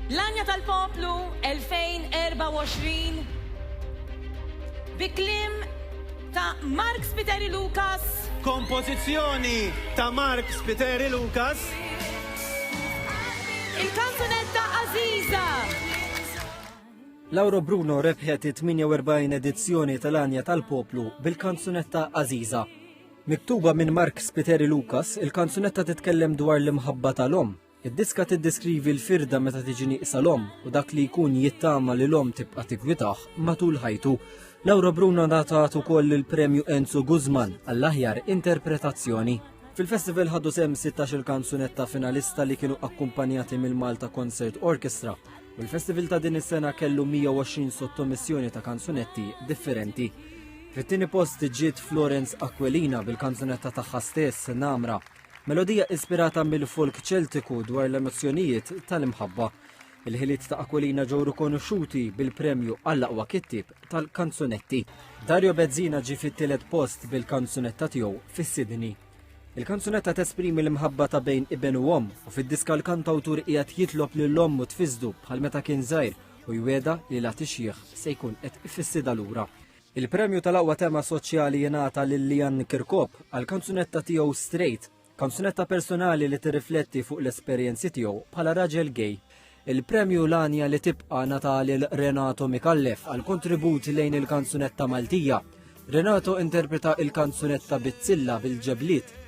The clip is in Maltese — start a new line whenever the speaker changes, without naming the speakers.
L-Għanja tal-Poplu 2024 bi kliem ta' Mark Spiteri Lucas. Kompożizzjoni
ta' Mark Spiteri Lucas.
Il-kanzunetta Għażiża.
Laura Bruno rebħet it-48 edizzjoni tal-Għanja tal-Poplu bil-kanzunetta Aziza. Miktuba minn Mark Spiteri Lucas, il-kanzunetta titkellem dwar l-imħabba tal-om Id-diska tiddeskrivi l-firda meta tiġi nieqsa l-omm u dak li jkun jittama li l-omm tibqa' tigwitah matul ħajtu. Laura Bruna ngħatat ukoll il-Premju Enzo Guzman għall-aħjar interpretazzjoni. Fil-festival ħadu sem 16 kanzunetta finalista li kienu akkumpanjati mill-Malta Concert Orchestra u l-festival ta' din is-sena kellu 120 sottomissjoni ta' kanzunetti differenti. Fit-tieni post ġiet Florence Aquilina bil-kanzunetta tagħha stess Namra Melodija ispirata mill-folk Ċeltiku dwar l-emozzjonijiet tal-imħabba. Il-ħiliet ta' Aquilina ġew rikonoxxuti bil-premju għall-aqwa kittieb tal-kanzunetti. Dario Bezzina ġie fit-tielet post bil-kanzunetta tiegħu fis-Sydney. Il-kanzunetta tesprimi l-imħabba ta' bejn iben u omm u fid-diska l-kantawtur qiegħed jitlob lil ommu tfisdu bħal meta kien żgħir u jwiegħda li la tixjieħ se jkun qed ifissiedha lura. Il-premju tal-aqwa tema soċjali jingħata lil Lianne Kirkop għall-kanzunetta tiegħu Straight, kanzunetta personali li tirrifletti fuq l-esperjenzi tiegħu bħala raġel gay. Il-premju L-Għanja li Tibqa' ngħata lil Renato Micallef għall-kontribut lejn il-kanzunetta Maltija. Renato interpreta il-kanzunetta Bizzilla bil-ġebliet.